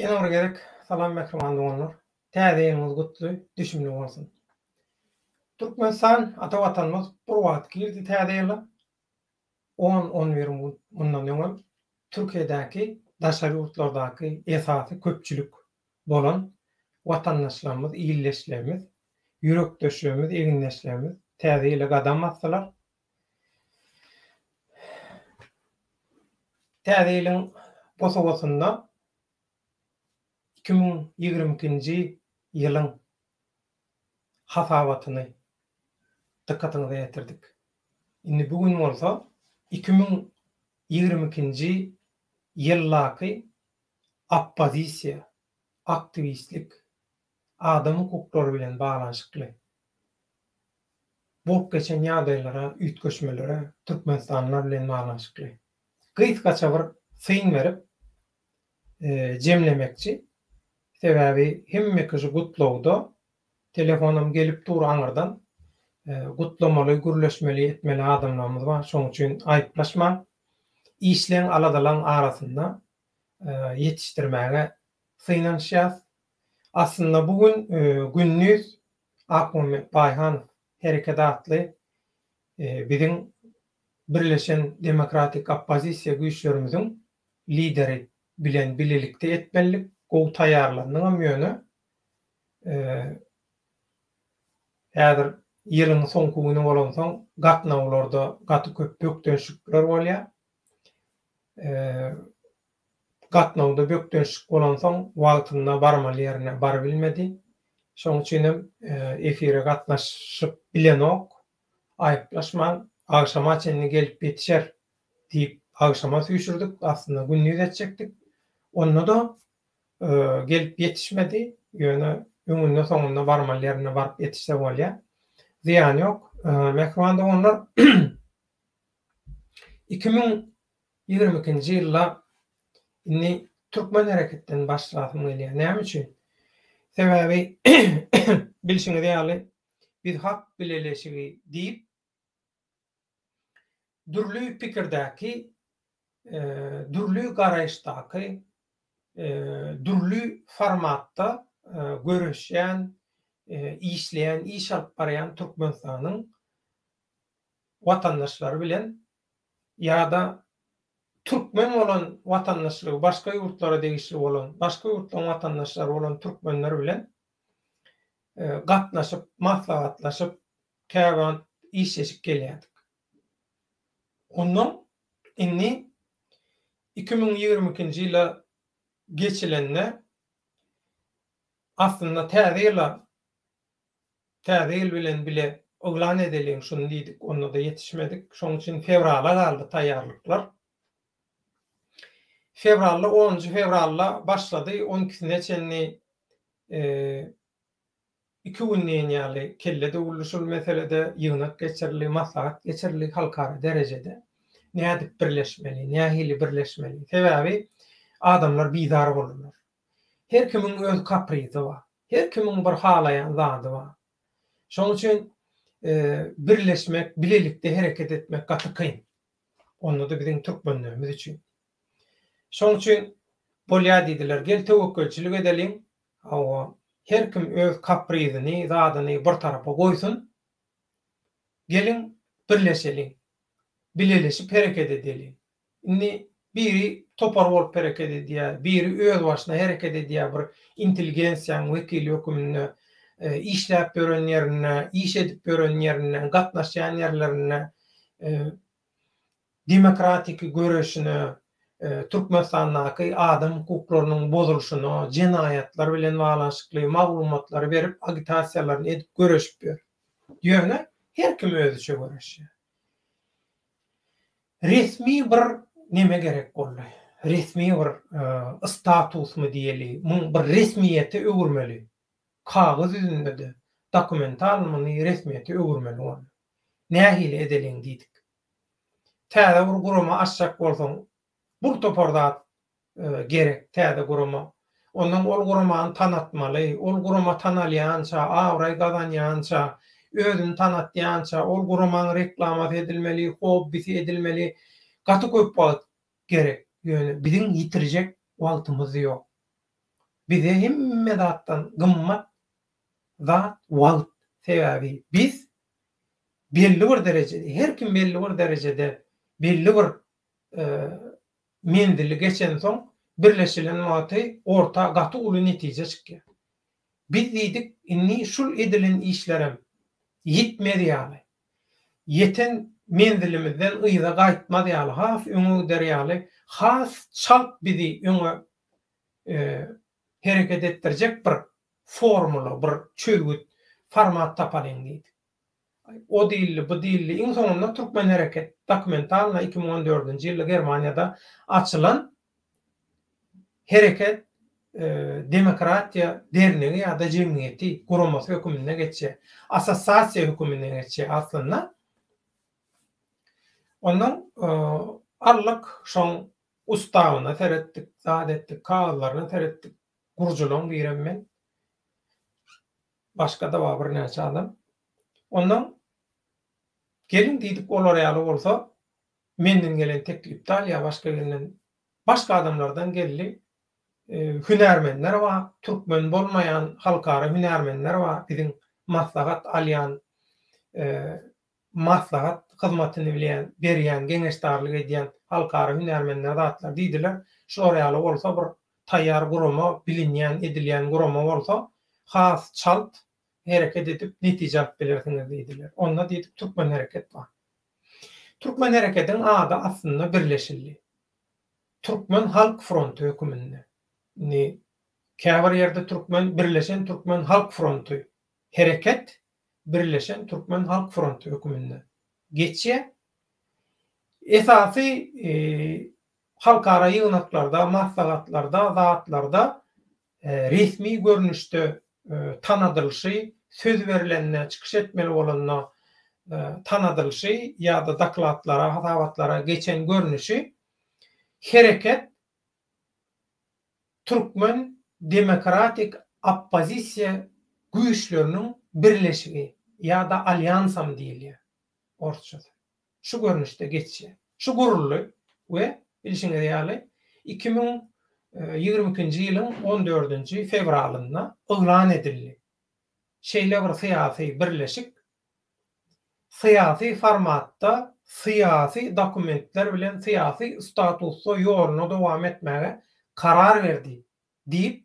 Ýene bir gezek salam mähriban doganlar. Täze ýylyňyz gutly, düşümli bolsun. Türkmenistan ata watanymyz bir wagt girdi täze ýyla, on-on bir gün mundan öňem Türkiýedäki daşary ýurtlardaky esasy köpçülik bolan watandaşlarymyz, ildeşlerimiz, ýürekdeşlerimiz, egindeşlerimiz täze ýyla gadam basdylar. Täze ýylyň bosagasynda iki müň ýigrimi ikinji ýylyň hasabatyny dykgatyňyza ýetirdik. Indi bu gün bolsa iki müň ýigrimi ikinji ýyldaky oppozisiýa, aktiwistlik, adam hukuklary bilen baglanyşykly bolup geçen ýagdaýlara, üýtgeşmelere, türkmenistanlylar bilen baglanyşykly gysgaça bir syn berip jemlemekçi. Sebäbi hemmeki şu gutlagda telefonam gelip dur aňyrdan. Gutlamaly, gürleşmeli, etmeli adamlarymyz bar. Şonuň üçin aýyplaşmaň. Işleň aladalaň arasynda ýetişdirmäge synanyşýas. Aslynda bu gün gündiz Akmuhammet Baýhanow hereketi atly biziň birleşen demokratik oppozisiýa güýçlerimiziň lideri bilen bilelikde etmelidik, gowy taýýarlandyňam ýöne häzir ýylyň soňky güni bolansoň gatnawlarda gaty köp bökdençlikler bolýar. gatnawda bökdençlik bolansoň, wagtynda barmaly ýerine barybilmedi. Şonuň üçin hem efire gatnaşyp bilenok. Aýyplaşmaň, agşama çenli gelip ýetişer diýip, agşama süýşürdik. Aslynda gündiz etjekdik. Onda-da gelip ýetişmedi. Ýöne öňünde-soňunda barmaly ýerine baryp ýetişse bolýar. Zyýany ýok. Mähriban doganlar, iki müň Ýigrimi ikinji ýylda indi türkmen hereketden başlasym gelýär. Näme üçin? Sebäbi bilşiňiz ýaly, biz Hak bileleşigi diýip, dürli pikirdäki, dürli garaýyşdaky, dürli formatda göreşýän, işleýän, iş alyp barýan Türkmenistanyň watandaşlary bilen ýa-da türkmen bolan watandaşlygy başga ýurtlara degişli bolan, başga ýurtlaryň watandaşlary bolan türkmenler bilen gatnaşyp, maslahatlaşyp, käwagt işleşip gelýärdik. Ondan indi iki müň ýigrimi ikinji ýyla geçilende aslynda täze ýyla Täze ýyl bilen bile yglan edeliň şuny diýdik, onda-da ýetişmedik. Şoň üçin fewrala galdy taýýarlyklar. Fewralda onunjy fewralda başlady, on ikisine çenli iki gün diýen ýaly kelle döwüldi şul meselede, ýygnak geçirildi, maslahat geçirildi halkara derejede. Nädip birleşmeli, nähili birleşmeli? Sebäbi adamlar bizar boldular. Her kimiň öz kaprizi bar. Her kimiň bir halaýan zady bar. Şonuň üçin birleşmek, bilelikde hereket etmek gaty kyn. Onda-da biziň türkmenlerimiz üçin. Şonuň üçin bolýar diýdiler, gel töwekgelçilik edeliň, hawa, her kim öz kaprizini, zadyny bir tarapa goýsun, geliň birleşeliň, bileleşip hereket edeliň. Indi biri topar bolup hereket edýär, biri özbaşyna hereket edýär, bir intelligensiýanyň wekili höküminde işläp ýören ýerinde, iş edip ýören ýerinde, gatnaşýan ýerlerinde demokratiki göreşine, Türkmenistandaky adam hukuklarynyň bozulyşyna, jenaýatlar bilen baglanyşykly maglumatlary berip, agitasiýalaryny edip göreşip ýör. Ýöne her kim özüçe göreşýär. Resmi bir neme gerek boldy. Resmi bir statusmy diýeli, muny bir resmiýete öwürmeli. Kagyz ýüzünde-de, dokumental muny resmiýete öwürmeli boldy. Nähili edeliň diýdik. Täze bir gurama açjak bolsaň, Bir topar zat gerek täze gurama. Ondan ol guramany tanatmaly. Ol gurama tanalýança, abraý gazanýança, özüni tanatýança ol guramaň reklamasy edilmeli, hobbisi edilmeli. Gaty köp wagt gerek. Ýöne biziň ýitirjek wagtymyz ýok. Bize hemme zatdan gymmat zat wagt. Sebäbi biz belli bir derejede, her kim belli bir derejede, belli bir menzili geçensoň, birleşilen wagty orta gaty uly netije çykýar. Biz diýdik, indi şul edilen işlerem ýitmez ýaly, ýeten menzilimizden yza gaýtmaz ýaly, has öňe gider ýaly, has çalt bizi öňe hereket etdirjek bir formula, bir çözgüt, format tapalyň diýdik. O dilli, bu dilli, iň soňunda Türkmen hereket, dokumentalna, iki müň on dördünji ýylda Germaniýada açylan Hereket demokratiýa dernegi ýa-da jemgyýeti, guramasy höküminde geçýär. Assossiasiýa höküminde geçýär aslynda. Ondan aldyk şoň ustawyna seretdik, zat etdik, kagyzlaryna seretdik, gurjulaň diýrem men. Başga da bar birnäçe adam. Ondan gelin diýdik olar ýaly bolsa menden gelen teklipdal ýa başga birinden başga adamlardan geldi. Hünärmenler bar, türkmen bolmaýan halkara hünärmenler bar biziň maslahat alýan maslahat hyzmatyny bilýän, berýän, geňeşdarlyk edýän halkara hünärmenleri zatlar diýdiler. Şular ýaly bolsa bir taýýar gurama, bilinýän, edilýän gurama bolsa, has çalt hereket edip, netije alyp bilersiňiz diýdiler. Onda diýdik Türkmen hereket bar. Türkmen herekediň ady aslynda birleşildi. Türkmen halk fronty höküminde. Indi käbir ýerde türkmen, birleşen türkmen halk fronty hereket Birleşen Türkmen Halk Fronty höküminde geçýär. Esasy halkara ýygnaklarda, maslahatlarda, zatlarda resmi görnüşde tanadylyşy, söz berilende, çykyş etmeli bolanda tanadylyşy ýa-da dokladlara, hasabatlara geçen görnüşi hereket Türkmen demokratik oppozisiýa güýçleriniň birleşigi ýa-da alýansam diýilýär, orsçasy, şu görnüşde geçýär. Şu guruldy we bilşiňiz ýaly, iki müň ýigrimi ikinji ýylyň on dördünji fewralynda yglan edildi. Şeýle bir syýasy birleşik Syýasy formatda syýasy dokumentler bilen syýasy statusda ýoluna dowam etmäge karar berdi diýip,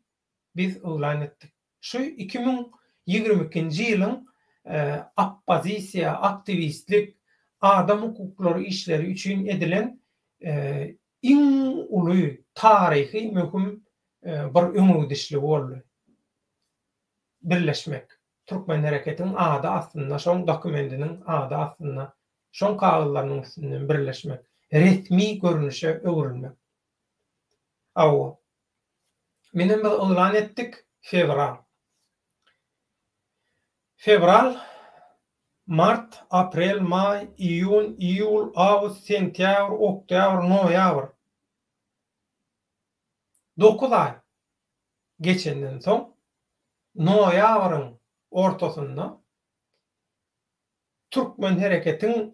biz yglan etdik. Şu iki müň ýigrimi ikinji ýylyň oppozisiýa, aktiwistlik, adam hukuklary işleri üçin edilen iň uly taryhy möhüm bir öňegidişligi boldy. Birleşmek. Türkmenhereketiň ady astynda, şoň dokumendiniň ady astynda, şoň kagyzlarynyň üstünden birleşmek, resmi görnüşe öwrülmek. Hawa. Menem biz yglan etdik, fewral. Fewral, mart, aprel, maý, iýun, iýul, awgust, sentýabr, oktýabr, noýabr. Dokuz aý. geçenden soň, noýabryň ortasynda Türkmen hereketiň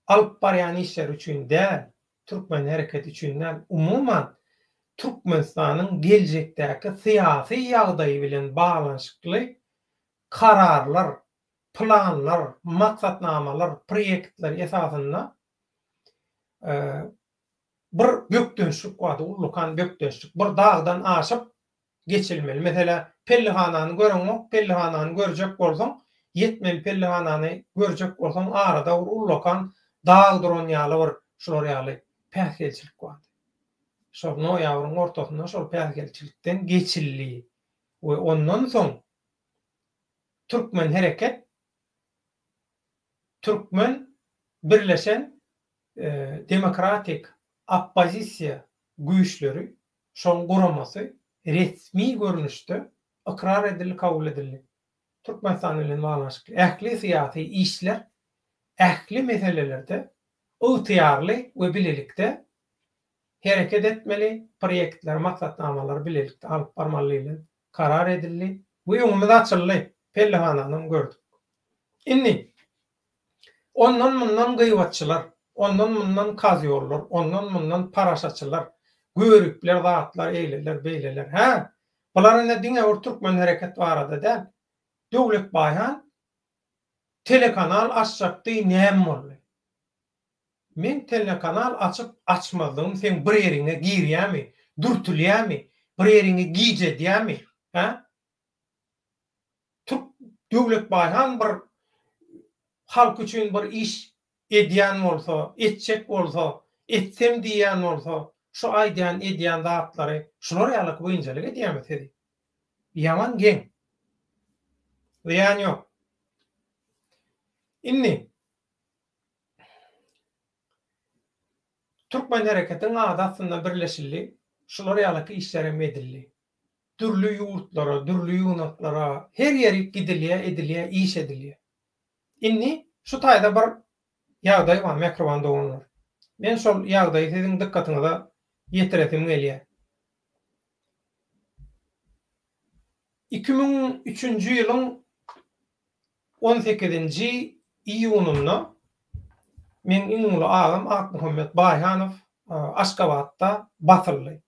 alyp barýan işleri üçin däl, Türkmen hereketi üçin däl, umuman, Türkmenistanyň geljekdäki syýasy ýagdaýy bilen baglanyşykly kararlar, planlar, maksatnamalar, proýektler esasynda bir bökdençlik bardy, ullakan bökdençlik. Bir dagdan aşyp geçilmeli. Meselä, pellihanany göreňok, pellihanany görjek bolsaň, ýetmeli pellihanany görjek bolsaň, arada bir ullakan dag duran ýaly bir şular ýaly päsgelçilik bardy. Şol noýabryň ortasynda şol päsgelçilikden geçildi we ondan soň Türkmenhereket, Türkmen birleşen demokratik oppozisiýa güýçleri, şoň guramasy resmi görnüşde ykrar edildi, kabul edildi. Türkmenistan bilen baglanyşykly ähli syýasy işler, ähli meselelerde ygtyýarly we bilelikde hereket etmeli, proýektleri, maksatnamalary bilelikde alyp barmaly diýlip karar edildi we öňümiz açyldy, pellehanany gördük. Indi Ondan-mundan gyýbatçylar, ondan-mundan kazýollar, ondan-mundan parasaçylar, göripler zatlar eýleler, beýleler. Hä, bular ine diňe bir türkmen hereket barada däl. Döwletbaýhan telekanal açjakdy, näme boldy? Men telekanal açyp, açmazlygym seň bir ýeriňe girýärmi, dürtülýärmi, bir ýeriňi gijedýärmi? Hä? Türk Döwletbaý han bir halk üçin bir iş edýän bolsa, etjek bolsa, etsem diýýän bolsa, şu aýdýan, edýän zatlary şular ýalyk biynjalyk edýärmi sizi? Ýaman geň. Zyýan ýok. Indi. Türkmen hereketiň ady astynda birleşildi, şular ýalaky işler hem edildi. Dürli ýurtlara, dürli ýygnaklara, her ýerik gidilýär, edilýär, iş edilýär. Indi şu taýda bir ýagdaý bar, mähriban doganlar. Men şol ýagdaýy siziň dykgatyňyza ýetiresim gelýär. Iki müň üçünji ýylyň On sekizinji iýunynda meň iň uly agam Akmuhammet Baýhanow Aşgabatda basyldy.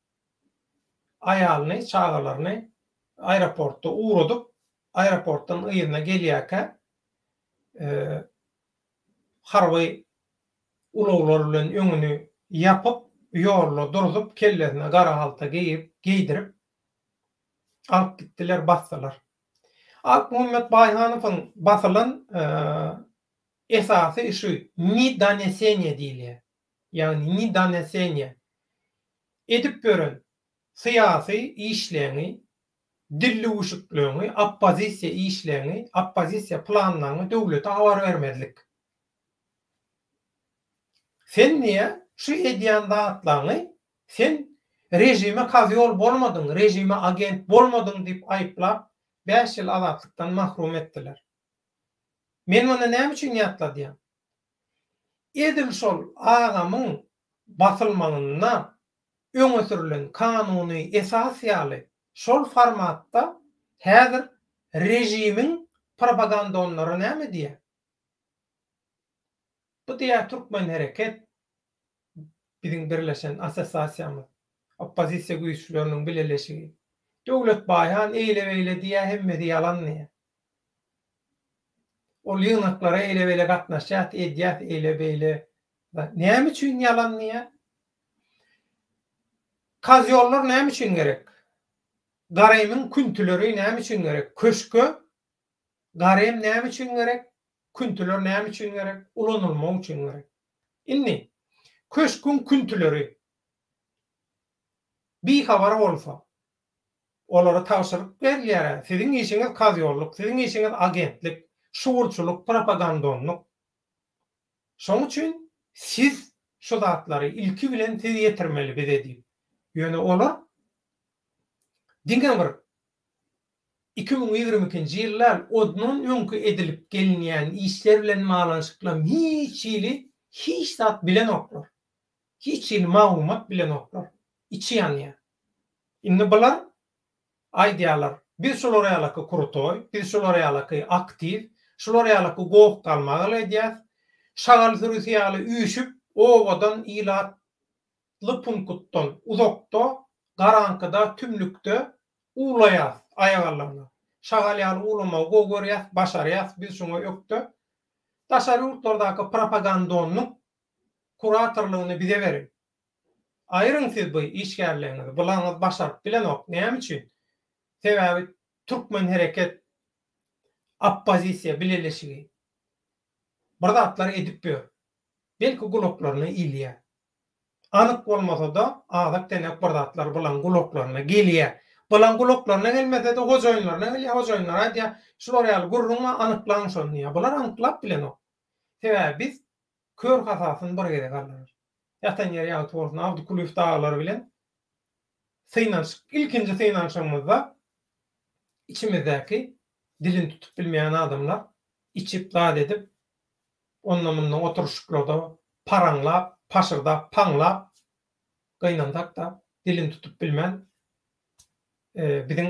Aýalyny, çagalaryny aeroportda ugradyp, aeroportdan yzyna gelýärkä harby ulaglar bilen öňüni ýapyp, ýolda durzup, kellesine gara halta geýdirip alyp gitdiler, basdylar. Akmuhammet Baýhanowyň basylan esasy işi Ni donesenie diýilýär. Ýagny Ni donesenie. Edip ýören syýasy işleňi, dillüwüşikleňi, oppozisiýa işleňi, oppozisiýa planlaňy döwlete habar bermezlik. Sen diýýär, şu edýän zatlaňy Sen režime kazyol bolmadyň, režime agent bolmadyň diýip aýyplap, bäş ýyl azatlykdan mahrum etdiler. Men muny näme üçin ýatladýan? Edil şol agamyň basylmagynda öňe sürlen kanuny esas ýaly şol formatda häzir režimiň propagandonlary näme diýýär? Bu diýýär Türkmenhereket, biziň birleşen assosiasiýamyz, oppozisiýa güýçleriniň bileleşigi. Döwlet Baýhan eýle-beýle diýýär, hemmesi ýalan diýýär. Ol ýygnaklara eýle-beýle gatnaşýas, edýäs eýle-beýle. Näme üçin ýalan diýýär? Kazýollar näme üçin gerek? Garemiň küntüleri näme üçin gerek? Köşge garem näme üçin gerek? Küntüler näme üçin gerek? Ulanylmak üçin gerek. Indi, köşküň küntüleri bihabar bolsa, olara tabşyryk berilýär-ä, siziň işiňiz kazýollyk, siziň işiňiz agentlik, şugurçylyk, propagandonlyk. Şoň üçin siz şu zatlary ilki bilen siz ýetirmeli bize diýip. Ýöne olar diňe bir Iki müň ýigrimi ikinji ýyldan ondan öňki edilip gelinýän işler bilen baglanyşyklam hiç hili hiç zat bilenoklar. Hiç hili maglumat bilenoklar. Içi ýanýar. Indi bular aýdýarlar, biz şular ýalaky krutoý, biz şular ýalaky aktiw, şular ýalaky goh-galmagal edýäs. Şagal sürüsi ýaly üýşüp, obadan ilat Atly punkutdan uzakda, garaňkyda, tümlükde uwlaýas, aýak allanda. Şagal ýaly uwlamagy gowy görýäs, başarýas, biz şoňa ökde. Daşary ýurtlardaky propagandonyň kuratorlygyny bize beriň. Aýryň siz bu işgärligiňizi, bulaňyz başaryp bilenok. Näme üçin? Sebäbi Türkmen hereket oppozisiýa bileleşigi bir zatlar edip ýör. Belki gulaklaryna ilýär. Anyk bolmasa-da, azak deňek bir zatlar Bylaň gulaklaryna gelýär. Bylaň gulaklaryna gelmese-de, hojaýynlaryna gelýär. Hojaýynlar aýdýar, Şular ýaly gürrüň bar, anyklaň şony diýýär. Bular anyklap bilenok. Sebäbi biz kör hasasyny bir gezek aldarys. Ýatan ýeri ýagty bolsun, Abdykulyýew dagylar bilen synanyşyk, ilkinji synanyşygymyzda içimizdäki dilini tutup bilmeýän adamlar içip, zat edip, onda-munda oturyşyklarda paraňlap, paşyrdap, paňlap gynansak-da, dilini tutup bilmän, biziň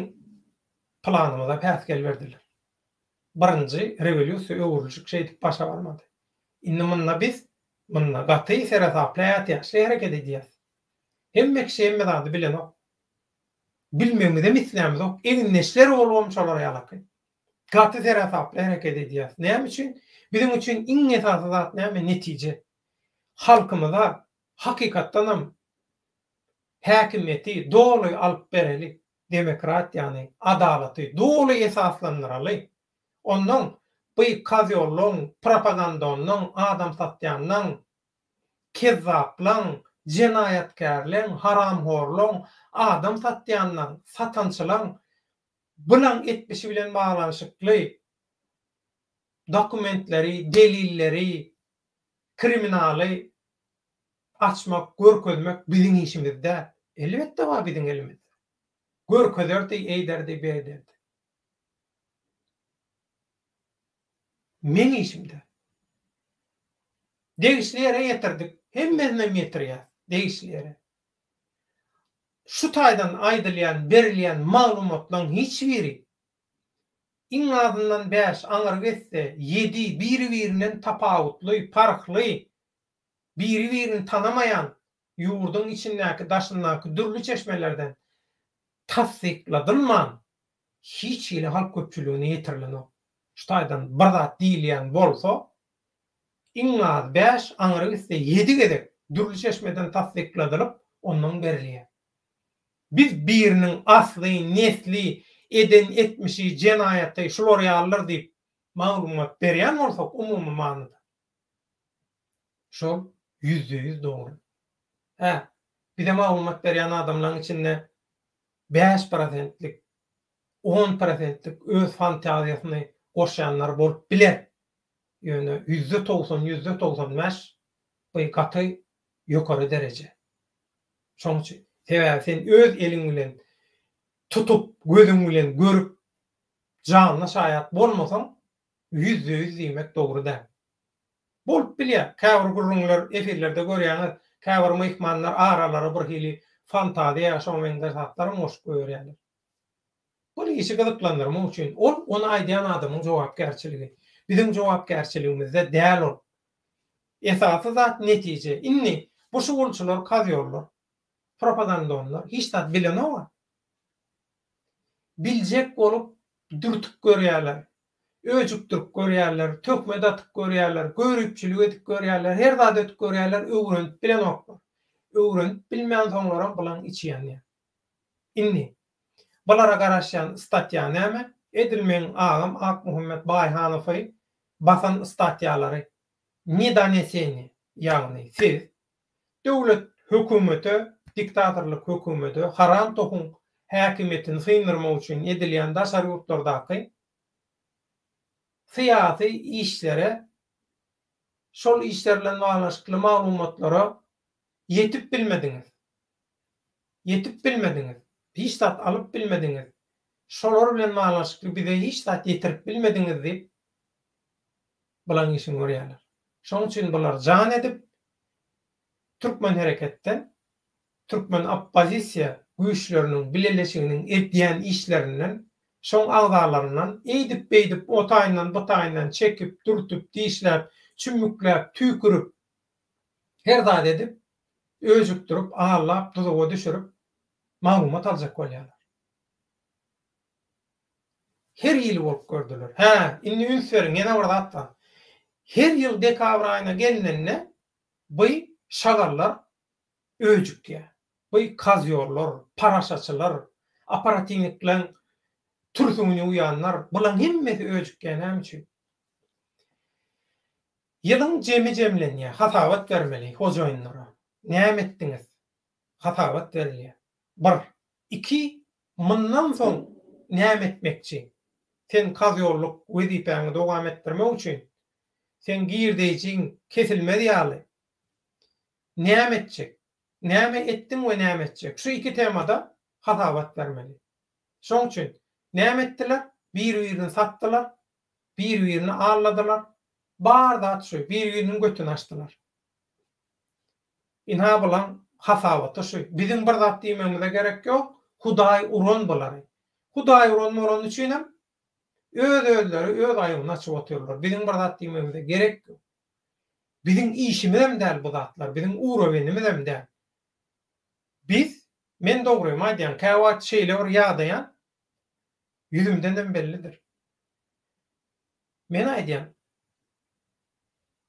planymyza päsgel berdiler. Birinji rewolýusiýa öwrüljek şeýdip başa barmady. Indi munda biz, munda gaty seresaply, ätiýaçly hereket edýäs. Hemme kişi hemme zady bilenok. Bilmegimizem islämizok. Egindeşler bolubam şolar ýalaky. Gaty seresaply hereket edýäris. Näme üçin? Biziň üçin iň esasy zat näme? Netije. Halkymyza hakykatdan hem häkimiýeti doly alyp bereli, demokratiýany, adalaty doly esaslandyraly. Onnoň bu kozýollaň, propagandonlaň, adam satýanlaň, kezzaplaň, jenaýatkärleň, haramhorlaň, adam satýanlaň, satançylaň Bulaň etmişi bilen baglanyşykly dokumentleri, delilleri, kriminaly açmak, görkezmek biziň işimiz däl. Elbetde bar biziň elimizde. Görkezerdi, eýderdi, berderdi. Meň işim däl. Degişli ýere ýetirdik. Hemmesinem ýetirýär degişli ýere. Şu taýdan aýdylýan, berilýän maglumatlaryň hiç biri, iň azyndan bäş, aňryk etse, ýedi biri-birinden tapawutly, parhly, biri-birini tanamaýan ýurduň içindäki, daşyndaky dürli çeşmelerden tassykladylman, hiç hili halk köpçüligine ýetirilenok. Şu taýdan bir zat diýilýän bolsa, iň az bäş, aňry gitse ýedi gezek dürli çeşmeden tassykladylyp, ondan berilýär. Biz biriniň asly, nesli, eden etmişi, jenaýaty şular ýalydyr diýip maglumat berýän bolsak umumy manyda, şol ýüzde ýüz dogry. Hä, bize maglumat berýän adamlaryň içinde bäş prosentlik on prosentlik öz fantaziýasyny goşýanlar bolup biler, ýöne ýüzde togsan, ýüzde togsan bäş bu gaty ýokary dereje. Şoň üçin, sebäbi sen öz eliň bilen tutup, gözüň bilen görüp, janyna şaýat bolmasaň, ýüzde ýüz diýmek dogry däl. Bolup bilýär, käbir gürrüňler, efirlerde görýäňiz, käbir myhmanlar aralary birhili fantaziýa, şoňa meňzeş zatlaram goşup goýberýärler. Ol işi gyzyklandyrmak üçin, ol ony aýdýan adamyň jogapkärçiligi. Biziň jogapkärçiligimizde däl ol. Esasy zat netije. Indi bu şugulçylar, kazýollar, propagandonlar hiç zat bilenok-a. Biljek bolup dürtüp görýärler, öjükdirip görýärler, töhmet atyp görýärler, göripçilik edip görýärler, her zat edip görýärler, öwrenip bilenoklar. Öwrenip bilmänsoňlaram bulaň içi ýanýar. Indi, bulara garaşýan statýa näme? Edil meň agam Akmuhammet Baýhanowy basan statýalary, ne doneseniýe, ýagny siz, döwlet, hökümete, diktatorlyk hökümete, haram tohuň häkimiýetini syndyrmak üçin edilýän daşary ýurtlardaky syýasy işlere, şol işler bilen baglanyşykly maglumatlara ýetip bilmediňiz. ýetip bilmediňiz, hiç zat alyp bilmediňiz, şolar bilen baglanyşykly bize hiç zat ýetirip bilmediňiz diýip, bulaň işini görýärler. Şonuň üçin bular jan edip, türkmen hereketden, türkmen oppozisiýa güýçleriniň bileleşiginiň edýän işlerinden, şoň agzalaryndan eýdip-beýdip, o taýyndan, bu taýyndan çekip, dürtüp, dişläp, çümmükläp, tüýkürip, her zat edip, öjükdirip, allap, duzaga düşürip, maglumat aljak bolýarlar. Her hili bolup gördüler. Hä, indi üns beriň, ýene bir zat bar. Her ýyl dekabr aýyna gelnende bu şagallar öjükýär. Bu kozýollar, paraşaçylar, operatiwnikleň türsüňini uýanlar, bulaň hemmesi öjükýär. Näme üçin? Ýylyň jemi jemlenýär, hasabat bermeli hojaýynlara. Näme etdiňiz? Hasabat berilýär. Bir. Iki, mundan soň näme etmekçi? Sen kazýollyk wezipäňi dowam etdirmek üçin, seň girdeýjiň kesilmez ýaly näme etjek? Näme etdiň we näme etjek? Şu iki temada hasabat bermeli. Şoň üçin, näme etdiler? Bir-birini satdylar, bir-birini alladylar, bar zat şu, bir-biriniň götüni açdylar. Ynha bulaň hasabaty şu, biziň bir zat diýmegimize gerek ýok, Hudaý uran bulary. Hudaý uran bolany üçinem öz-özleri öz aýbyny açyp otyrlar, biziň bir zat diýmegimize gerek ýok. Biziň işimizem däl bu zatlar, biziň urowenimizem däl. Biz, men dogrymy aýdýan, käwagt şeýle bir ýadaýan, Ýüzümdenem bellidir. Men aýdýan,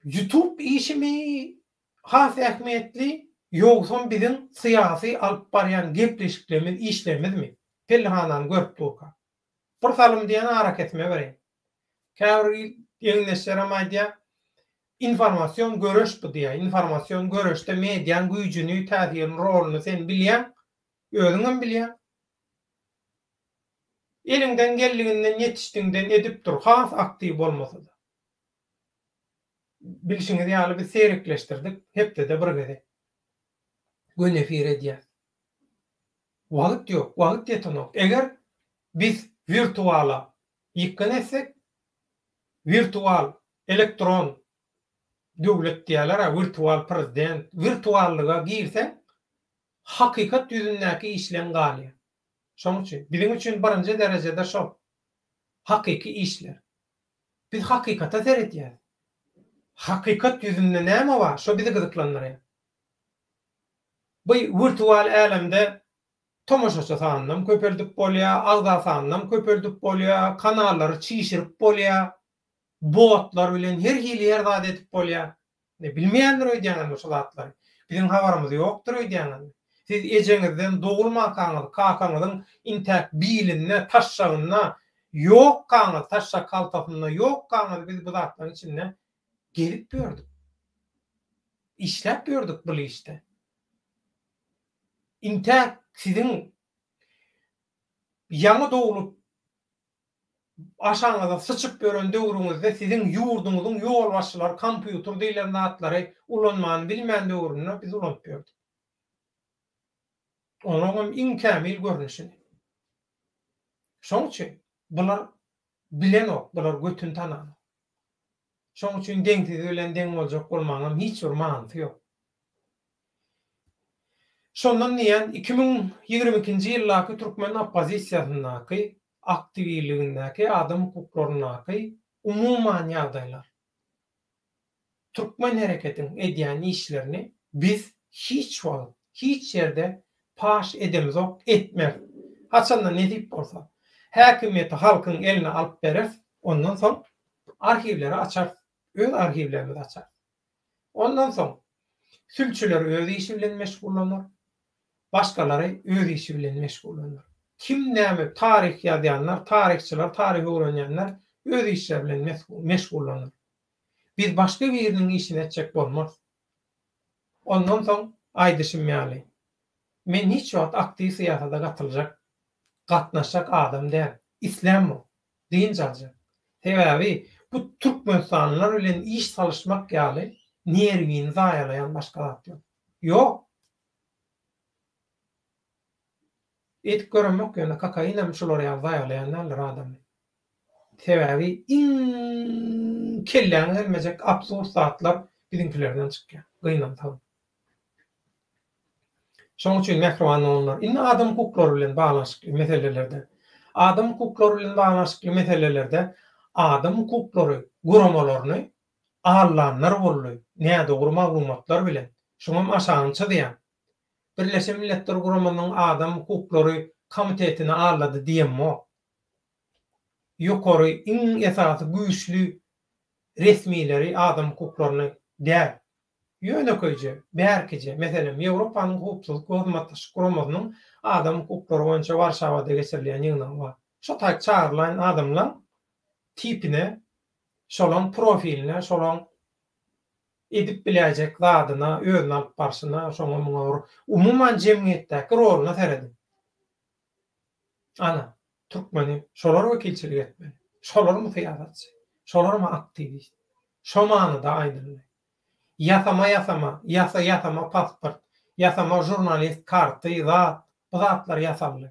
YouTube işimi has ähmiýetli, ýogsam biziň syýasy alyp barýan gepleşiklerimiz, işlerimizmi? Pellihanany görüp durka. Bir salym diýen arakesme bereýin. Käbir geňeşlerim aýdýa, informasion göreş bu diýýä. Informasion göreşde mediaň güýjüni, täsirini, roluny sen bilýäň, özüňem bilýäň. Eliňden geldiginden ýetişdigiňden edip dur, has aktiw bolmasa-da. Bilşiňiz ýaly biz serekleşdirdik, hepdede bir gezek gün efir edýäs. Wagt ýok, wagt ýetenok. Eger biz wirtuala ýykgyn etsek, wirtual, elektron döwlet diýýäler-ä, wirtual prezident, wirtuallyga girseň, Hakykat ýüzündäki işleň galýar. Şoň üçin, biziň üçin birinji derejede şol, hakyky işler. Biz hakykata seredýäris. Hakykat ýüzünde näme bar, şo bizi gyzyklandyrýar. Bu wirtual älemde tomaşaçy sanynam köpeldip bolýar, agza sanynam köpeldip bolýar, kanallary çişirip bolýar, botlar bilen her hili her zady edip bolýar. Indi bilmeýändir öýdýäňizmi şu zatlary? Biziň habarymyz ýokdur öýdýäňizmi? Siz ejeňizden dogulmankaňyz kakaňyzyň intäk bilinde, taşşagynda ýokkaňyz, taşşak haltasynda ýokkaňyz biz bu zatlaryň içinde gezip ýördük. Işläp ýördük bul işde. Intäk siziň ýaňy doglup Aşagyňyza syçyp ýören döwrüňizde siziň ýurduňyzyň ýolbaşçylary kompýuter diýlen zatlary ulanmany bilmän döwründe biz ulanyp ýördük. Onuň hem iň kämil görnüşini. Şoň üçin bular bilenok, bular götüni tananok. Şoň üçin deňsizi bilen deň boljak bolmagyňam hiç bir manysy ýok. Şondan diýýän, iki müň ýigrimi ikinji ýyldaky türkmen oppozisiýasyndaky, aktiwligindäki, adam hukuklaryndaky umuman ýagdaýlar, türkmen hereketiň edýän işlerini biz hiç wagt, hiç ýerde paş edemizok, etmeris. Haçanda nesip bolsa, häkimiýeti halkyň eline alyp bereris, ondan soň Arhiwleri açarys. Öz arhiwlerimizi açarys. Ondan soň sülçüler öz işi bilen meşgullanar. Başgalary öz işi bilen meşgullanar. Kim näme taryh ýazýanlar, taryhçylar, taryh öwrenýänler öz işleri bilen meşgullanar. Biz başga biriniň işini etjek bolmarys. Ondan soň aýdyşym ýaly, men hiç wagt aktiw syýasata gatyljak, gatnaşjak adam däl. Islämok. Dynç aljak. Sebäbi bu türkmenistanlylar bilen iş salyşmak ýaly nerwini zaýalaýan başga zat ýok. Ýok! Eýdip göremok ýöne kokainem şular ýaly zaýalaýan däldir adamy. Sebäbi iň kelläňe gelmejek absurd zatlar biziňkilerden çykýar. Gynansaň. Şonuň üçin, mähriban doganlar, indi adam hukuklary bilen baglanyşykly meselelerde, adam hukuklary bilen baglanyşykly meselelerde adam hukuklary guramalaryny aldanlar boldy, nädogry maglumatlar bilen, şuňam aşagyny çyzýan, Birleşen Milletler Guramasynyň Adam hukuklary komitetini aldady diýemok. Ýokary, iň esasy güýçli resmileri adam hukuklaryny däl, Ýönekeýje, bärkije, meselem, Ýewropanyň Howpsuzlyk we Hyzmatdaşlyk Guramasynyň adam hukuklary boýunça Warşawada geçirilýän ýygnagy bar. Şo taýk çagyrylan adamlaň tipine, şolaň profiline, şolaň edip biläýjek zadyna, özüni alyp barşyna, şoňa-muňa bir umuman jemgyýetdäki roluna serediň. Ana, türkmeni şolar wekilçilik etmeli. Şolarmy syýasatçy? Şolarmy aktiwist? Şo manyda aýdyldy. Ýasama ýasama, ýasa ýasama pasport, ýasama žurnalist karty, zat, bu zatlar ýasaldy.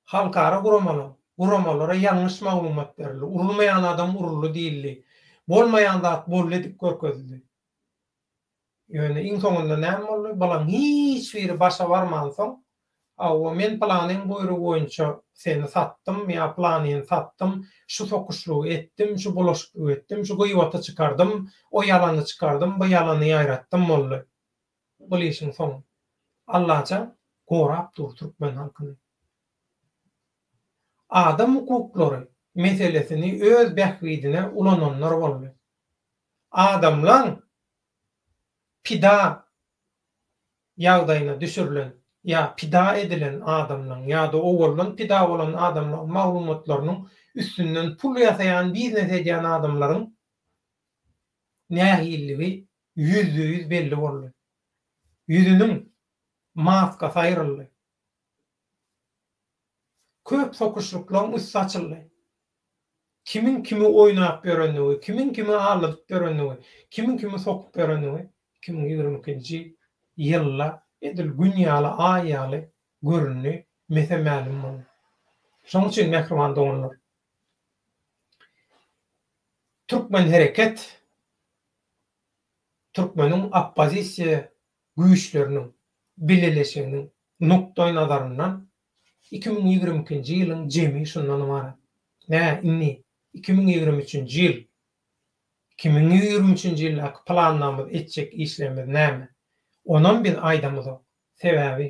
Halkara guramalaň, guramalara ýalňyş maglumat berildi, urulmaýan adam uruldy diýildi. Bolmaýan zat boldy edip görkezildi. Ýöne iň soňunda näme boldy? Bularyň hiç biri başa barmansoň, Hawa, men pylanyň buýrugy boýunça seni satdym ýa pylanyny satdym, şu sokuşlygy etdim, şu bulaşyklygy etdim, şu gyýbaty çykardym, o ýalany çykardym, bu ýalany ýaýratdym boldy. Bul işiň soňy. Allajan gorap dur türkmen halkyny. Adam hukuklary meselesini öz bähbidine ulananlar boldy. adamlaň pida ýagdaýyna düşürilen ýa pida edilen adamlaň ýa-da owaldan pida bolan adamlaň maglumatlarynyň üstünden pul ýasaýan biznes edýän adamlaryň nähilligi ýüzde ýüz belli boldy. Ýüzüniň maskasy aýryldy. Köp sokuşlyklaň üsti açyldy. Kimiň kimi oýnap ýörenligi, kimiň kimi aldadyp ýörenligi, kimiň kimi sokup ýörenligi iki müň ýigrimi ikinji ýylda edil gün ýaly, aý ýaly göründi, mese mälim boldy. Şonuň üçin mähriban doganlar, türkmen hereket, türkmeniň oppozisiýa güýçleriniň bileleşiginiň nukdaýnazaryndan Iki müň ýigrimi ikinji ýylyň jemi şundan ybarat. Nä, indi iki müň ýigrimi üçünji ýyl? Iki müň ýigrimi üçünji ýyldaky planlarymyz, etjek işlerimiz näme? Onam biz aýdamyzok. Sebäbi,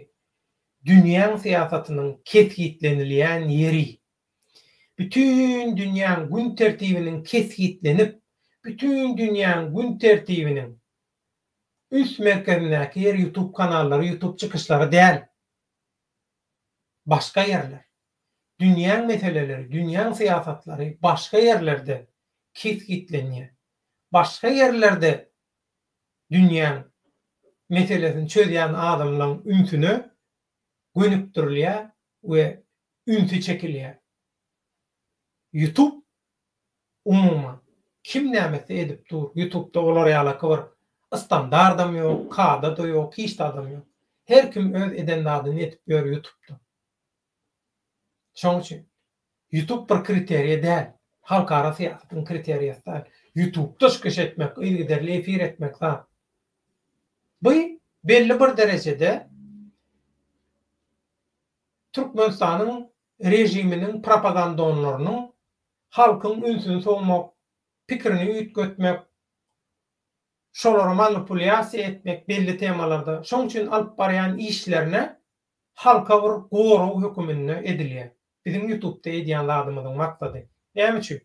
dünýäň syýasatynyň kesgitlenilýän ýeri. Bütin dünýäň gün tertibiniň kesgitlenip, bütin dünýäň gün tertibiniň üns merkezindäki ýer ýutub kanallary, ýutub çykyşlary däl. Başga ýerler. Dünýäň meseleleri, dünýäň syýasatlary başga ýerlerde kesgitlenýär. Başga ýerlerde dünýäň meselesini çözýän adamlaryň ünsüne gönükdirilýär we ünsi çekilýär. Ýutup Umuman, kim nämesi edip dur, ýutubda olar ýalaky bir istandardam ýok, kada-da ýok, hiç zadam ýok. Her kim öz eden zadyny edip ýör ýutubda. Şoň üçin, ýutub bir kriteriýa däl, halkara syýasatyň kriteriýasy däl. Ýutubda çykyş etmek, yzygiderli efir etmek zat. Bu belli bir derejede Türkmenistanyň režiminiň propagandonlarynyň halkyň ünsüni sowmak, pikirini üýtgetmek, şolary manipulýasiýa etmek belli temalarda, şoň üçin alyp barýan işlerine halka bir gorag höküminde edilýär. Biziň ýutubda edýän zadymyzyň maksady näme üçin?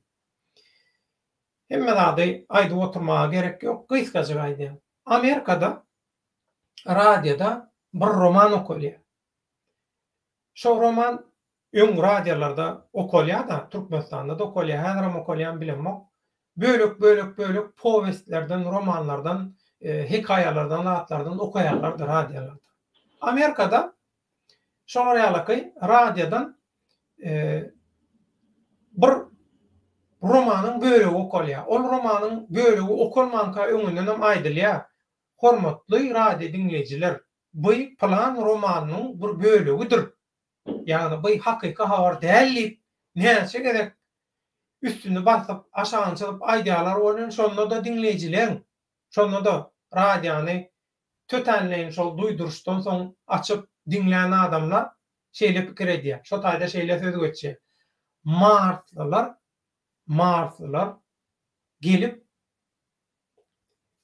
Hemme zady aýdyp oturmaga gerek ýok, gysgajyk aýdýan. Amerikada radioda bir roman okalýar. Şo roman öň radiýalarda okalýa-da, Türkmenistanda-da okalýa, häzirem okalýamy bilemok. Bölek, bölek, bölek powestlerden, romanlardan, hekaýalardan zatlardan okaýarlardy radiýalarda. Amerikada şolar ýalaky radiýadan bir romanyň bölegi okalýa. Ol romanyň bölegi okalmanka öňündenem aýdylýa, Hormatly radiýa diňleýjiler, By plan romanynyň bir bölegidir. Ýagny by hakyky habar däl diýip näçe gezek üstüni basyp, aşagyny çyzyp aýdýarlar welin şonda-da diňleýjileň, şonda-da radiony tötänleýin şol duýduryşdan soň açyp diňlän adamlar şeýle pikir edýär. Şo taýda şeýle söz geçýär. Marslylar, marslylar gelip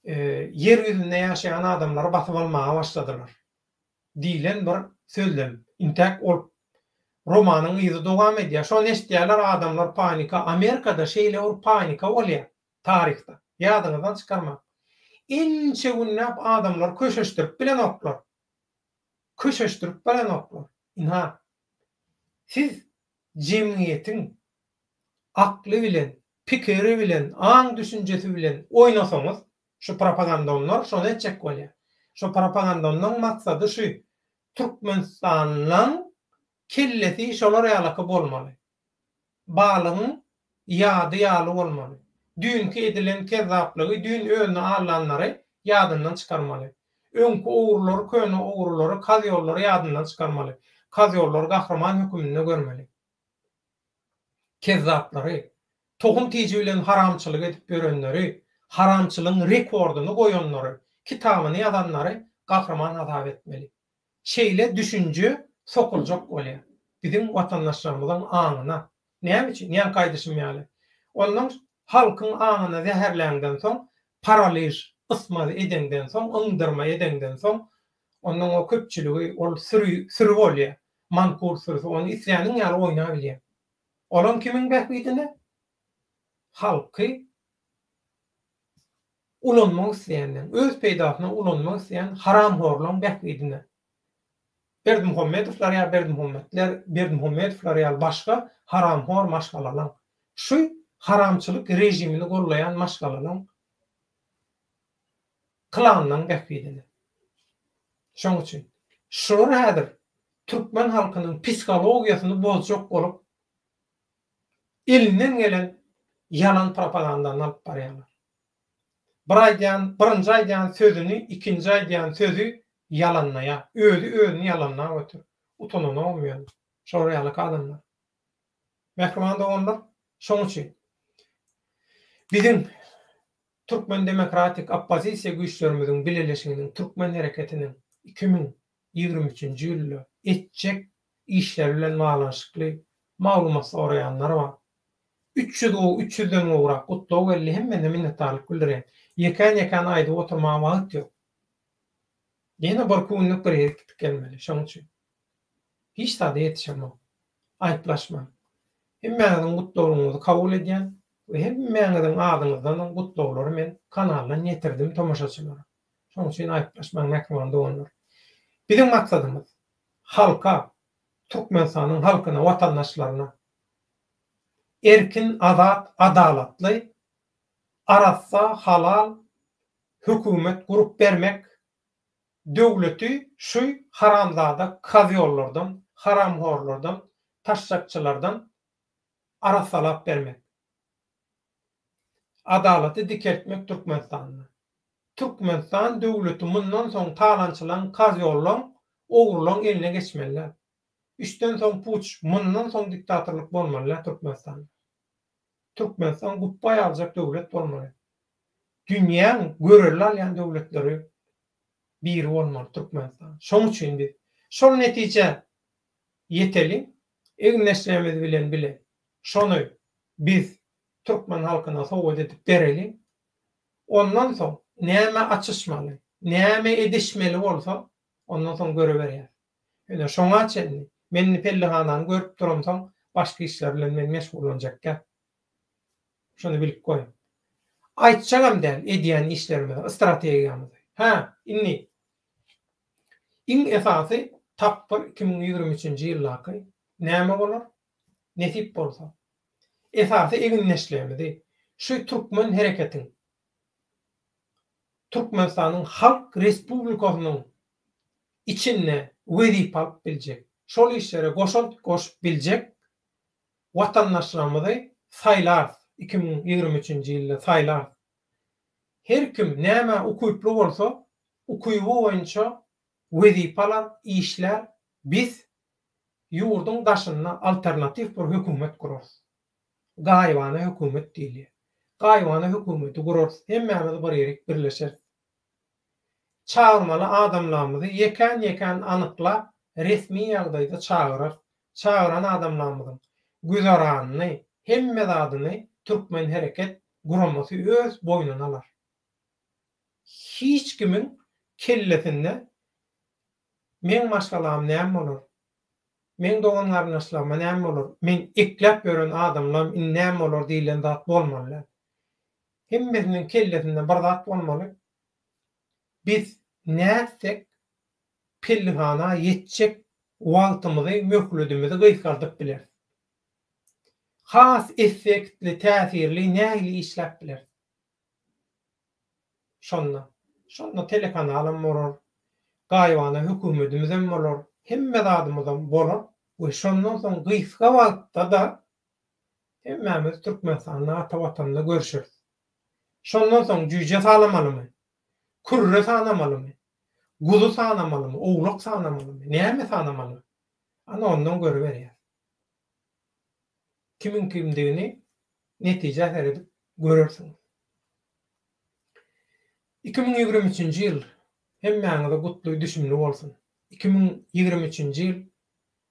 Ýer ýüzünde ýaşaýan adamlary basyp almaga başladylar diýlen bir sözlem intäk ol romanyň yzy dowam edýär. Şony eşidýärler adamlar panika. Amerikada şeýle bir panika bolýar taryhda. Ýadyňyzdan çykarmaň. Ençe günläp adamlary köşeşdirip bilenoklar. Köşeşdirip bilenoklar. Ynha, siz jemgyýetiň akly bilen, pikiri bilen, aň-düşünjesi bilen oýnasaňyz, şu propagandonlar şony etjek bolýar. Şu propagandonlaň maksady şu, Türkmenistanyň kellesi şolar ýalaky bolmaly. Balygyň Ýady ýaly bolmaly. Düýnki edilen kezzaplygy, düýn özüni aldanlary ýadyndan çykarmaly. Öňki ogrulary, köne ogrulary, kazyolary ýadyndan çykarmaly. Kazyolary gahryman höküminde görmeli. Kezzaplary, tohum-tiji bilen haramçylyk edip ýörenleri, haramçylygyň rekordyny goýanlary, kitabyny ýazanlary gahryman hasap etmeli. Şeýle düşünje sokuljak bolýar biziň watandaşlarymyzyň aňyna. Näme üçin? Ýaňky aýdyşym ýaly, ondan halkyň aňyny zäherläňden soň, paraliž, ysmaz edeňden soň, yňdyrma edeňden soň, ondan o köpçüligi, ol süri, süri bolýar, mankur sürüsi, ony isläniň ýaly oýnap bilýär. Olam kimiň bähbidine? Halky. ulanmak isleýänleň, öz peýdasyna ulanmak isleýän haramhorlaň bähbidine Berdimuhamedowlar ýa Berdimuhametler, Berdimuhamedowlar ýaly başga haramhor maşgalalaň, şu haramçylyk režimini gollaýan maşgalalaň klanlaň bähbidine. Şoň üçin şular häzir türkmen halkynyň psihologiýasyny bozjak bolup elinden gelen ýalan propagandany alyp barýarlar. Bir aýdýan, birinji aýdýan sözüni, ikinji aýdýan sözi ýalanlaýar. Özi özüni ýalanlap otyr. Utananogam ýöne. Şolar ýalyka adamlar. Mähriban doganlar, şoň üçin biziň Türkmen demokratik oppozisiýa güýçlerimiziň bileleşiginiň, Türkmen hereketiniň iki müň ýigrimi üçünji ýylda etjek işleri bilen baglanyşykly maglumat soraýanlar bar. Üç ýüz gowy üç ýüzden gowrak gutlag geldi hemmesine minnetdarlyk bildirýän. Ýekän ýekän aýdyp oturmaga wagt ýok. Ýene bir kunluk bir ýere gitip gelmeli şoň üçin. Hiç zada ýetişemok. Aýyplaşmaň. Hemmäňiziň gutlaglaryňyzy kabul edýän we hemmäňiziň adyňyzdanam gutlaglary men kanaldan ýetirdim tomaşaçylara. Şonuň üçin aýyplaşmaň mähriban doganlar. Biziň maksadymyz halka, Türkmenistanyň halkyna, watandaşlaryna erkin, azat, adalatly, arassa, halal hökümet gurup bermek, döwleti şu haramzada kozýollardan, haramhorlardan, taşşakçylardan arassalap bermek. Adalaty dikeltmek Türkmenistanda. Türkmenistan döwleti mundan soň talançylaň karyollaň ogrulaň eline geçmelilä. Üçden soň puç mundan soň diktatorlyk bolmalilä Türkmenistanda. Türkmenistan gupbaý aljak döwlet bolmaly. Dünýäň görelde alýan döwletleri biri bolmaly Türkmenistan. Şoň üçin biz şol netijä ýeteliň egin-eşigimiz bilen bile şony biz türkmen halkyna sowgat edip bereliň. Ondan soň näme açyşmaly, näme edişmeli bolsa ondan soň göreberýäs. Ýöne şoňa çenli men indi pellihanany görüp duramsoň başga işler bilen men meşgullanjak däl. Şony bilip goýuň. Aýtjagam däl edýän işlerimizi, strategiýamyzy. Hä, indi. Iň esasy tapgyr iki müň ýigrimi üçünji ýyldaky näme bolar? Nesip bolsa. Esasy egindeşligimizi şu türkmen hereketiň Türkmenistanyň Halk Respublikasynyň içinde wezipe alyp biljek, şol işlere goşant goşup biljek watandaşlarymyzy saýlarys, iki müň ýigrimi üçünji ýylda saýlarys. Her kim nämä ukyply bolsa, ukyby boýunça wezipe alar, işlär, biz ýurduň daşynda alternatiw bir hökümet gurarys. Gaýybana hökümet diýilýär. Gaýybana hökümeti gurarys, hemmämiz bir ýerik birleşeris. Çagyrmaly adamlarymyzy ýekän-ýekän anyklap, resmi ýagdaýda çagyrarys. Çagyran adamlarymyzyň güzeranyny, hemme zadyny Türkmen hereket guramasy öz boýnuna alar. Hiç kimiň kellesinde meň maşgalam näme bolar, meň dogan-garyndaşlaryma näme bolar, men ekläp ýören adamlarym indi näme bolar diýlen zat bolmaly däl. Hemmesiniň kellesinde bir zat bolmaly, biz nätsek pellihana ýetjek wagtymyzy, möhledimizi gysgaldyp bileris. Has effektli, täsirli nähili işläp bileris? Şonda, şonda telekanalam bolar, gaýybana hökümetimizem bolar, hemme zadymyzam bolar we şondan soň gysga wagtda-da Hemmämiz Türkmenistanda ata watanda görüşeris. Şondan soň jüýje salamalymy? Kürre sanamalymy? Guzy sanamalymy? Owlak sanamalymy? Näme sanamaly? Ana ondan görüberýäs. Kimiň kimdigini netijä seredip görersiňiz. Iki müň ýigrimi üçünji ýyl hemmäňize gutly, düşümli bolsun. Iki müň ýigrimi üçünji ýyl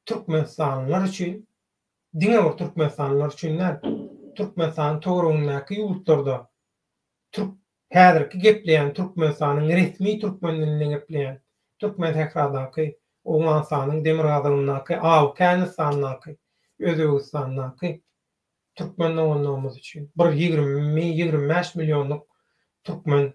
türkmenistanlylar üçin diňe bir türkmenistanlylar üçin däl, Türkmenistanyň töweregindäki ýurtlarda türk häzirki gepleýän Türkmenistanyň resmi türkmen dilinde gepleýän Türkmensähradaky, Owganystanyň demirgazygyndaky, Awgänistandaky, Özbegistandaky türkmen doganlarymyz üçin bir ýigrimi, ýigrimi bäş millionlyk türkmen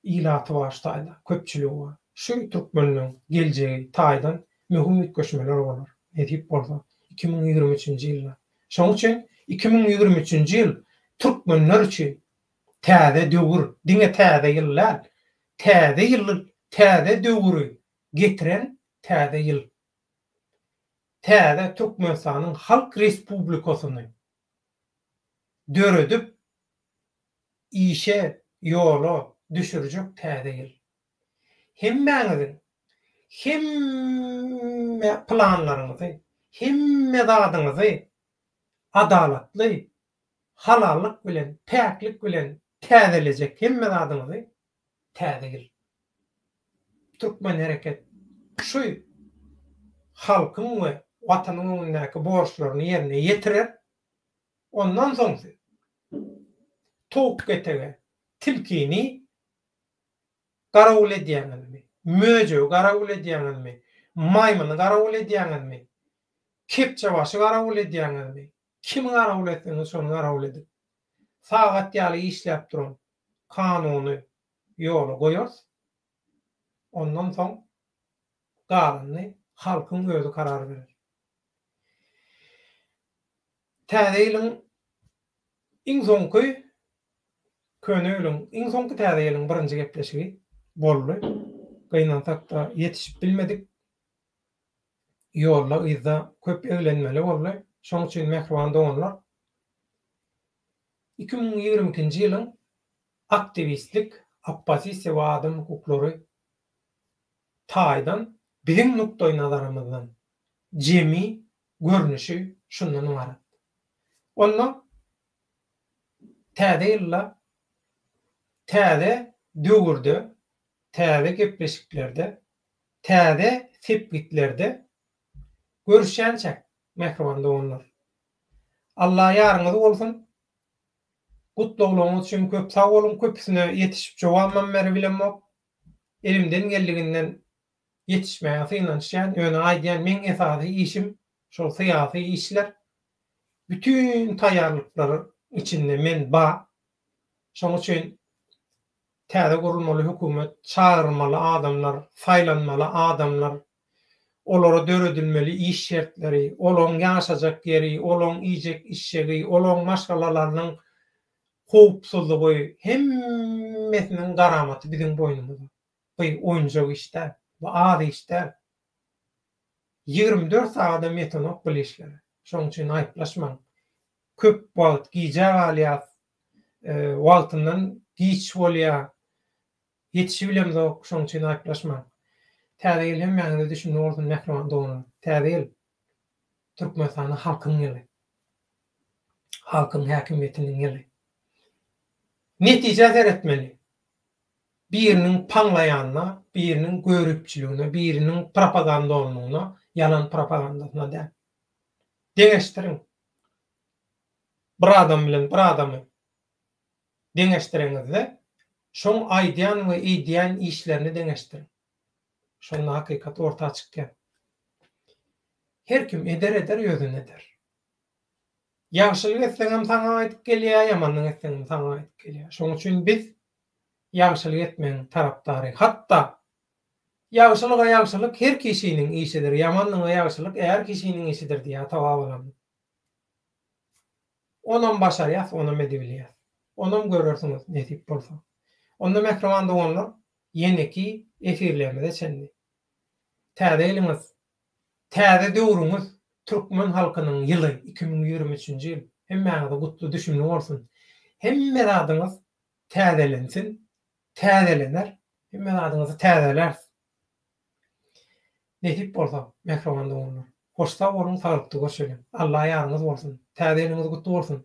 ilaty başdaýda köpçüligi bar. Şu türkmenleň geljegi taýdan möhüm üýtgeşmeler bolar, nesip bolsa, iki müň ýigrimi üçünji ýylda. Şonuň üçin iki müň ýigrimi üçünji ýyl türkmenler üçin täze döwür, diňe täze ýyl däl, täze ýyly, täze döwri getiren täze ýyl. Täze Türkmenistanyň Halk Respublikasyny döredip işe ýola düşürjek täze ýyl. Hemmäňiziň hemme planlaryňyzy, hemme zadyňyzy adalatly, halallyk bilen, päklik bilen täzelejek hemme zadyňyzy Täze ýyl. Türkmen hereket şu halkyň we Watanyň öňündäki borçlaryny ýerine ýetirer. Ondan soň siz towuk ketege tilkini garawul edýäňizmi, möjegi garawul edýäňizmi, maýmyny garawul edýäňizmi, kepjebaşy garawul edýäňizmi, Kimi garawul etseňiz şony garawul edip, sagat ýaly işläp duran kanuny ýola goýarys. Ondan soň galanyny halkyň özi karar berer. Täze ýylyň iň soňky, köne ýylyň iň soňky täze ýylyň birinji gepleşigi boldy. Gynansak-da ýetişip bilmedik. Ýolda yzda köp eglenmeli boldy. Şoň üçin mähriban doganlar iki müň ýigrimi ikinji ýylyň aktiwistlik, oppozisiýa we adam hukuklary taýdan biziň nukdaý nazarymyzdan jemi görnüşi şundan ybarat. Onda täze ýylda täze döwürde täze gepleşiklerde Täze sepgitlerde görüşýänçäk mähriban doganlar. Alla ýaryňyz bolsun. Gutlaglaryňyz üçin köp sag boluň, köpüsine ýetişip jogabam beribilemok. Elimden geldiginden ýetişmäge synanyşýan, ýöne aýdýan meň esasy işim şol syýasy işler. Bütin taýýarlyklaryň içinde men ba, Şonuň üçin täze gurulmaly hökümet çagyrylmaly adamlar, saýlanmaly adamlar, olara döredilmeli iş şertleri, olaryň ýaşajak ýeri, olaryň iýjek-içjegi, olaryň maşgalalarynyň howpsuzlygy, hemmesiniň garamaty biziň boýnumyzda. Bu oýunjak iş däl. Bu az iş däl. Ýigrimi dört sagadam ýetenok bul işlere. Şoň üçin aýyplaşmaň. Köp wagt gijä galýas. Wagtyndan giç bolýa. Ýetişibilemzok. Şoň üçin aýyplaşmaň. Täze ýyl hemmäňize düşümli bolsun mähriban doganlar. Täze ýyl Türkmenistana halkyň ýyly. Halkyň häkimiýetiniň ýyly. Netijä seretmeli. Biriniň paňlaýanyna, biriniň göripçiligine, biriniň propagandonlygyna, ýalan propagandasyna däl. Deňeşdiriň. Bir adam bilen bir adamy deňeşdireňizde, şoň aýdýan we eýdýän işlerini deňeşdiriň. Şonda hakykat orta çykýar. Her kim eder-eder, ýözen eder. Ýagşylyk etseňem saňa gaýdyp gelýär, ýamanlyk etseňem saňa gaýdyp gelýär. Şonuň üçin biz ýagşylyk etmegiň tarapdary. Hatda Ýagşylyga ýagşylyk her kişiniň işidir, ýamanlyga ýagşylyk är kişiniň işidir diýýär ata-babalarymyz. Onam başarýas, onam edibilýär. Onam görersiňiz, nesip bolsa. Onda mähriban doganlar, ýeneki efirlerimize çenli. Täze ýylyňyz Täze döwrüňiz, Türkmen halkynyň ýyly, iki müň ýigrimi üçünji ýyl hemmäňize gutly, düşümli bolsun! Hemme zadyňyz täzelensin, täzelener, hemme zadyňyzy täzeläris, nesip bolsa, mähriban doganlar! Hoş sag boluň, saglykda görşeliň! Alla ýaryňyz bolsun! Täze ýylyňyz gutly bolsun!